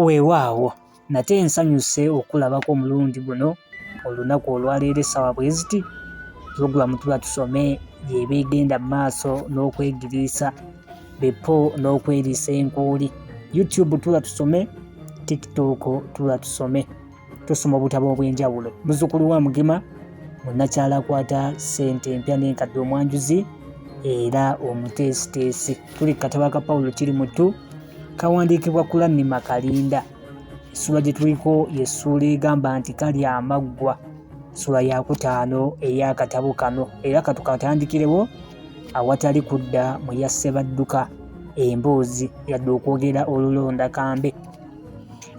Weewaawo nate nsanyuse okulabako omulundi guno olunaku olwaleero essaawa bwe ziti pulogulaamu tuba tusome y'eba egenda mu maaso n'okwegiriisa bepo n'okweriisa enkuuli youtube tuba tusome tiktok tuba tusome. tusoma obutabo obw'enjawulo muzukulu wa mugema munnakyala akwata ssente empya n'enkadde omwanjuzi era omuteesiteesi tuli kukatabo aka pawulo kiri mutu kawandiikibwa kulannima kalinda essula gye tuliko yessuula egamba nti kali amaggwa sula yakutaano ey'akatabo kano era katukatandikirewo awatali kudda mu yassebadduka emboozi yadde okwogera olulonda kambe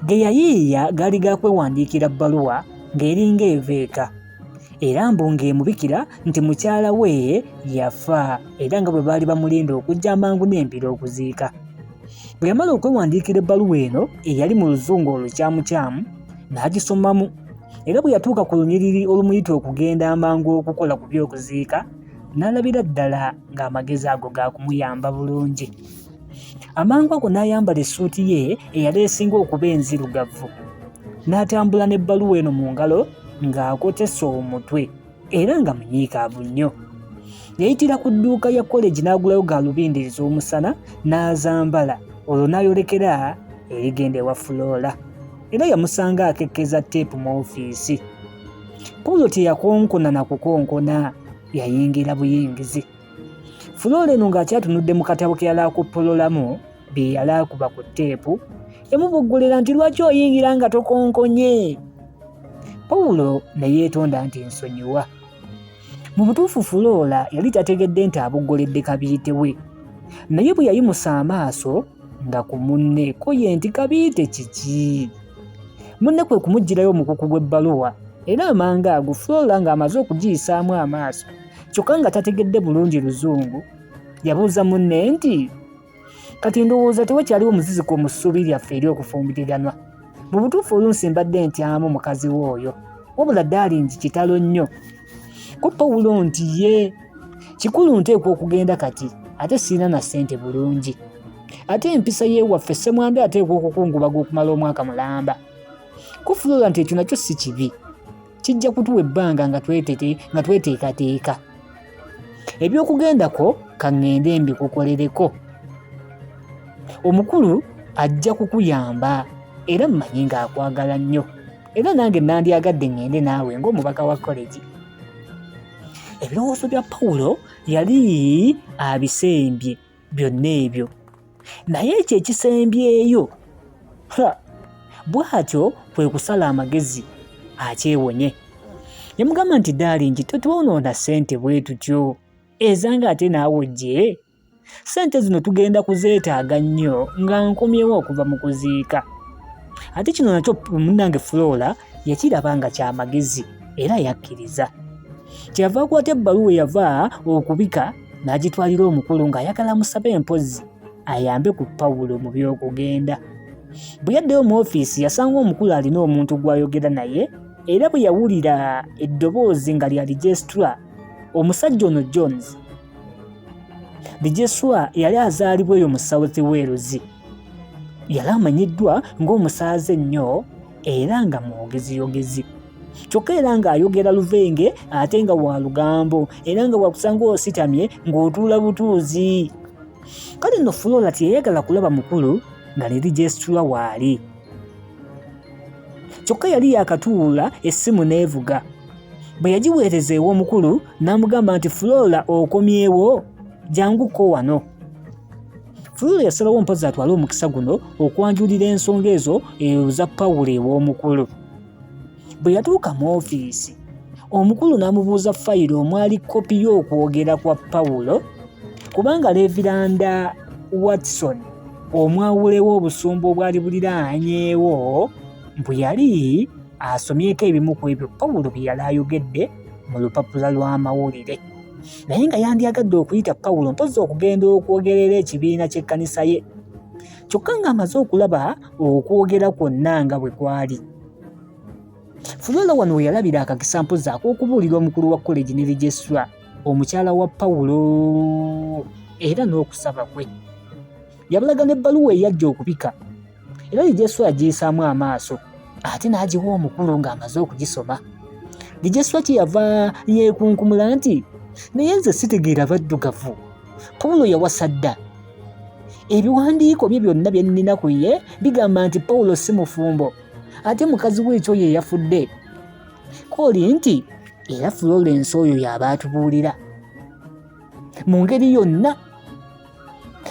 ge yayiiya gaali ga kwewandiikira bbaluwa ng'eringa eva eka era mbu ng'emubikira nti mukyala we yafa era nga bwe baali bamulinda okujja amangu n'embiro okuziika bwe yamala okwewandiikira ebbaluwa eno eyali mu luzungu olukyamukyamu n'agisomamu era bwe yatuuka ku lunyiriri olumuyita okugenda amangu okukola ku by'okuziika n'alabira ddala ng'amagezi ago ga kumuyamba bulungi amangu ago n'ayambala essuuti ye eyali esinga okuba enzirugavu n'atambula n'ebbaluwa eno mu ngalo ng'akotesa omutwe era nga munyiikaavu nnyo yayitira ku dduuka ya koleji n'agulayo gaalubindi ez'omusana n'azambala olwo n'ayolekera erigenda ewa fuloola era yamusanga akekkeza teepu mu ofiisi paulo teyakonkona na kukonkona yayingira buyingizi Fuloora eno ng'akyatunudde mu katabo ke yali akuppololamu bye yali akuba ku tteepu yamubuggulira nti lwaki oyingira nga tokonkonye pawulo ne yeetonda nti nsonyiwa mu butuufu fuloola yali tategedde nti abuggoledde kabiite we naye bwe yayimusa amaaso nga ku munne ko ye nti kabiite kiki munne kwe kumuggyirayo omukuku gw'ebbaluwa era amanga ago fuloola ng'amaze okugiyisaamu amaaso kyokka nga tategedde bulungi luzungu yabuuza munne nti kati ndowooza tewakyaliwo muziziko mu ssuubi lyaffe eri okufumbiriganwa mu butuufu oyo nsimbadde ntyamu mukazi we oyo wabula daalingi kitalo nnyo ko pawulo nti ye kikulu nteekwa okugenda kati ate sirina na ssente bulungi ate empisa y'ewaffe ssemwambi ateekwa okukungubaga okumala omwaka mulamba kufulula nti ekyo nakyo si kibi kijja kutuwa ebbanga nga tweteekateeka ebyokugendako kaŋŋende mbikukolereko omukulu ajja kukuyamba era mmanyi ng'akwagala nnyo era nange nandyagadde ŋŋende naawe ng'omubaka wa koleji ebirowoozo bya pawulo yali abisembye byonna ebyo naye ekyo ekisembyeyo bw'atyo kwe kusala amagezi akyewonye yamugamba nti daalingi totwonoona ssente bwe tutyo ezanga ate naawe ojje ssente zino tugenda kuzeetaaga nnyo nga nkomyewo okuva mu kuziika ate kino nakyo munnange flora yakiraba nga kyamagezi era yakkiriza kyeyava akwata ebbaluwa eyava okubika n'agitwalira omukulu ng'ayagala musabe empozi ayambe ku pawulo mu by'okugenda bwe yaddeyo mu ofiisi yasanga omukulu alina omuntu gw'ayogera naye era bwe yawulira eddoboozi nga lya lijesitula omusajja ono jones lijesitula yali azaalibwa eyo mu south wales yali amanyiddwa ng'omusaaze ennyo era nga mwogeziyogezi kyokka era ng'ayogera luvenge ate nga wa lugambo era nga wakusanga ositamye ng'otuula butuuzi kale no fulola teyayagala kulaba mukulu nga liri gyesitula waali kyokka yali yakatuula essimu n'evuga bwe yagiweereza ew'omukulu n'amugamba nti fulola okomyewo janguko wano Fuller yasalawo mpozzi atwale omukisa guno okwanjulira ensonga ezo eyo za Pawulo ew'omukulu. Bwe yatuuka mu ofiisi, omukulu n'amubuuza fayiro omwali kkopi y'okwogera kwa Pawulo kubanga Leviranda Watson omwawulewo obusumba obwali buliraanyeewo bwe yali asomyeko ebimu ku ebyo Pawulo bye yali ayogedde mu lupapula lw'amawulire. Naye nga yandyagadde okuyita Pawulo mpozzi okugenda okwogerera ekibiina ky'ekkanisa ye. Kyokka ng'amaze okulaba okwogera kwonna nga bwe kwali fuloola wano we yalabira akakisa mpozi ak'okubuulira omukulu wa koleji ne registra omukyala wa pawulo era n'okusaba kwe yabalaga n'ebbaluwa eyajja okubika era registra yagiyisaamu amaaso ate n'agiwa omukulu ng'amaze okugisoma registra kye yava yeekunkumula nti naye nze sitegeera baddugavu Pawulo yawasa dda. Ebiwandiiko bye byonna bye nnina ku ye bigamba nti Pawulo si mufumbo, ate mukazi we ekyo ye yafudde. Kooli nti era Florence oyo y'aba atubuulira mu ngeri yonna.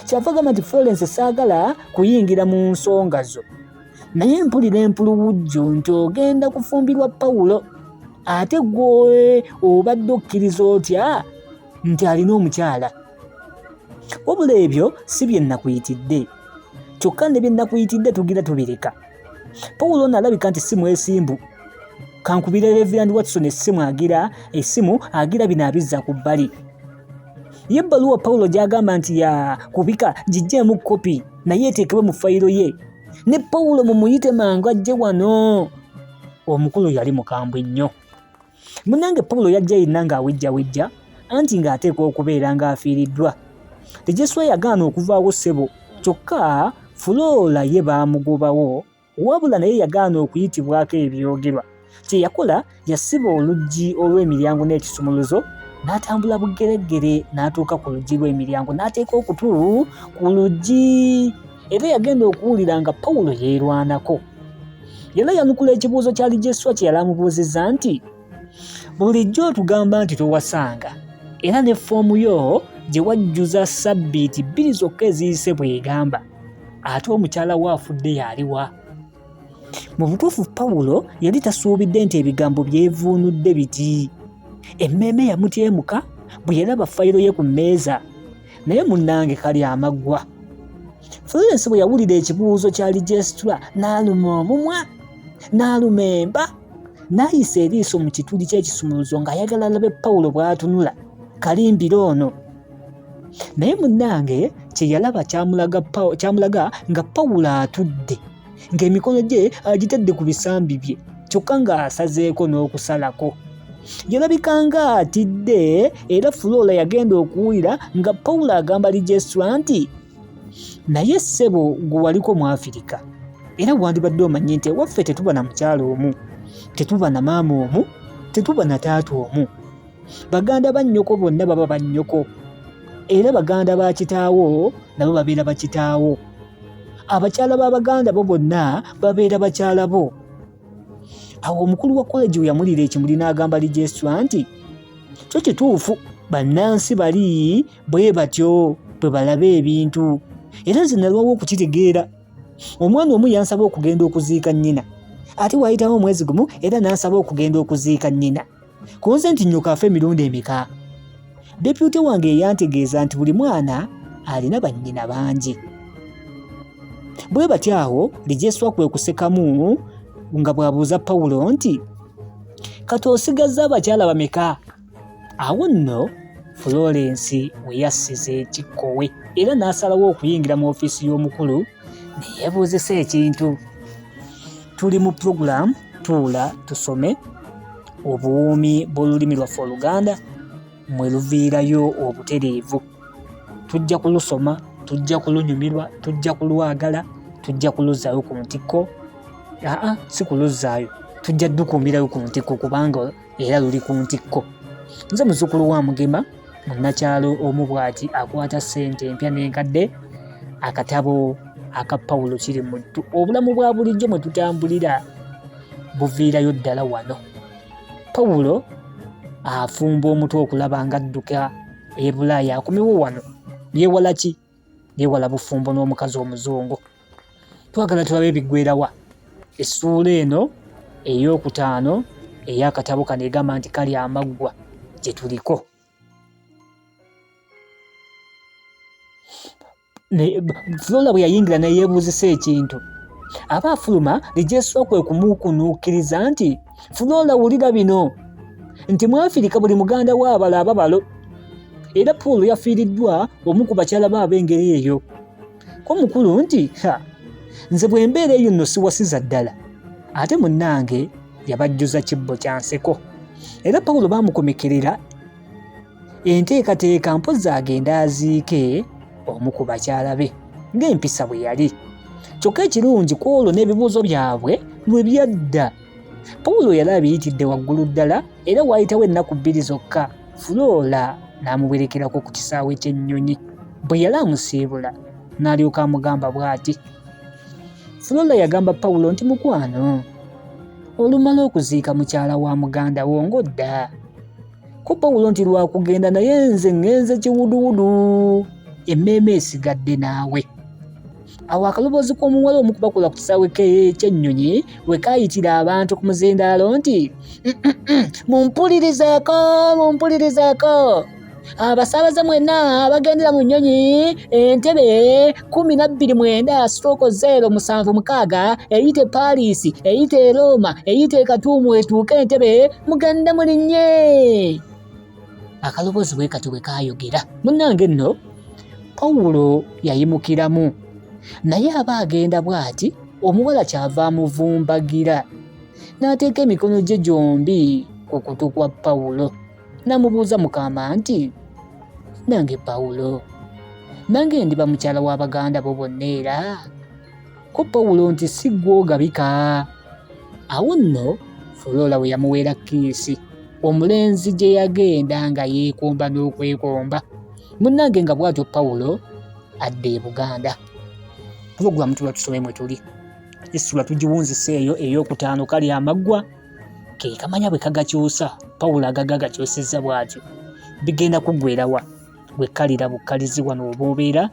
Kyava gamba nti Florence saagala kuyingira mu nsonga zo, naye mpulira empuluwujjo nti ogenda kufumbirwa Pawulo. ate gwe obadde okkiriza otya nti alina omukyala wabula ebyo si bye nnakuyitidde kyokka ne bye nnakuyitidde tugira tubireka pawulo ono alabika nti si mwesimbu kankubira reverand watson essimu agira essimu agira bino abizza ku bbali ye ebbaluwa pawulo gy'agamba nti ya kubika gijjeemu kopi naye eteekebwe mu fayiro ye ne pawulo mumuyite mangu ajje wano omukulu yali mukambwe nnyo Munange Paulo yajja yenna ng'awejjawejja anti ng'ateekwa okubeera ng'afiiriddwa. Tejeswa yagaana okuvaawo ssebo kyokka Fuloola ye baamugobawo wabula naye yagaana okuyitibwako ebyogerwa. Kye yakola yasiba oluggi olw'emiryango n'ekisumuluzo n'atambula bugereggere n'atuuka ku luggi lw'emiryango n'ateeka okutu ku luggi. era yagenda okuwulira nga pawulo yeerwanako yena yanukula ekibuuzo kya lijeswa kye yali amubuuzizza nti bulijjo otugamba nti towasanga era ne foomu yo gye wajjuza ssabbiiti bbiri zokka eziyise bw'egamba ate omukyala we afudde yaliwa mu butuufu pawulo yali tasuubidde nti ebigambo byevuunudde biti emmeeme yamutyemuka bwe yalaba fayiro ye ku mmeeza naye munnange kali amaggwa florence bwe yawulira ekibuuzo kya lijesitula n'aluma omumwa n'aluma emba n'ayisa eriiso mu kituli ky'ekisumuluzo ng'ayagala alabe pawulo bw'atunula kalimbira ono naye munnange kye yalaba kyamulaga nga pawulo atudde ng'emikono gye agitadde ku bisambi bye kyokka ng'asazeeko n'okusalako yalabika nga atidde era fuloola yagenda okuwulira nga pawulo agamba lijesitula nti naye ssebo gwe waliko mu afirika era wandibadde omanye nti ewaffe tetuba na mukyalo omu tetuba na maama omu tetuba na taata omu baganda ba nnyoko bonna baba ba nnyoko era baganda ba kitaawo nabo babeera bakitaawo abakyala ba baganda bo bonna babeera bakyala bo awo omukulu wa koleji we yamulira ekimuli n'agamba lijesitwa nti kyo kituufu bannansi bali bwe batyo bwe balaba ebintu era nze nalwawo okukitegeera omwana omu yansaba okugenda okuziika nnyina ate waayitawo omwezi gumu era n'ansaba okugenda okuziika nnyina Ku nze nti nnyoko afa emirundi emeka? Deputy wange yeyantegeeza nti buli mwana alina bannyina bangi. Bwe batyo awo Lijeswa kwe kusekamu nga bw'abuuza Pawulo nti kati osigazza abakyala bameka? Awo nno Florence we yassiza ekikkowe era n'asalawo okuyingira mu ofiisi y'omukulu neyebuuzisa ekintu tuli mu pulogulaamu tuula tusome obuwoomi bw'olulimi lwaffe oluganda mwe luviirayo obutereevu tujja kulusoma tujja kulunyumirwa tujja kulwagala tujja kuluzzaayo ku ntikko aa si kuluzzaayo tujja dukuumirayo ku ntikko kubanga era luli ku ntikko nze muzukulu wa mugema munnakyalo omu bwati akwata ssente empya n'enkadde akatabo aka pawulo kiri muttu obulamu bwa bulijjo mwe tutambulira buviirayo ddala wano pawulo afumba omutwe okulaba ng'adduka ebulaaya akomewo wano yewala ki Yewala bufumbo n'omukazi omuzungu. Twagala tulabe ebiggwerawa. Essuula eno ey'okutaano ey'akatabo kano egamba nti kali amaggwa gye tuliko. Flora bwe yayingira ne yeebuuzisa ekintu. Aba afuluma ne gyesula kwe kumukunuukiriza nti. funa olawulira bino nti mwafirika buli muganda wa abala ababalo era paul yafiiriddwa omu ku bakyala ba ab'engeri eyo ko mukulu nti ha nze bwe mbeera eyo nno siwasiza ddala ate munnange yabajjuza kibbo kya nseko era pawulo baamukomekerera enteekateeka mpozzi agenda aziike omu ku bakyala be ng'empisa bwe yali kyokka ekirungi ku olwo n'ebibuuzo byabwe lwe byadda pawulo yali abiyitidde waggulu ddala era waayitawo ennaku bbiri zokka fuloola n'amuwerekerako ku kisaawe ky'ennyonyi bwe yali amusiibula n'alyoka amugamba bw'ati fuloola yagamba pawulo nti mukwano olumala okuziika mukyala wa muganda wo ng'odda kuba wulo nti lwakugenda naye nze ngenze kiwuduwudu emmeeme esigadde naawe awo akaloboozi k'omuwala omu kubakula ku kisaawe ky'ennyonyi we kaayitira abantu ku muzindaalo nti mumpulirizeeko mumpulirizeeko abasaabaze mwenna abagendera mu nnyonyi entebe kumi na bbiri mwenda stroke zero musanvu mukaaga eyite Paris eyite Roma eyite Katuumu etuuke Entebbe muganda mulinye akaloboozi bwe kati bwe kaayogera munnange nno Pawulo yayimukiramu naye aba agenda bw'ati omuwala kyava amuvumbagira n'ateeka emikono gye gyombi ku kutu kwa Pawulo. N'amubuuza Mukama nti, Nange Pawulo, nange ndiba mukyala wa baganda bo bonna era? Ko Pawulo nti, Si ggwe ogabika. Awo nno Fuloola we yamuweera kiisi, omulenzi gye yagenda nga yeekomba n'okwekomba. Munnange nga bw'atyo Pawulo adda e Buganda. Pulogulaamu tuba tusome mwe tuli. Essula tugiwunzise eyo ey'okutaano kali amaggwa. ke kamanya bwe kagakyusa pawulo agaga agakyusizza bw'atyo bigenda kuggwerawa bwe kalira bukkalizi wano oba obeera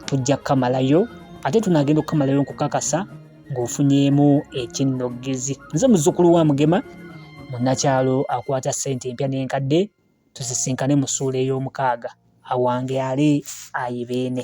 tujja kukamalayo ate tunaagenda okukamalayo nkukakasa ng'ofunyeemu ekinnoggezi nze muzzukulu wa mugema munnakyalo akwata ssente empya n'enkadde tuzisinkane mu ssuula ey'omukaaga awange ali ayibeene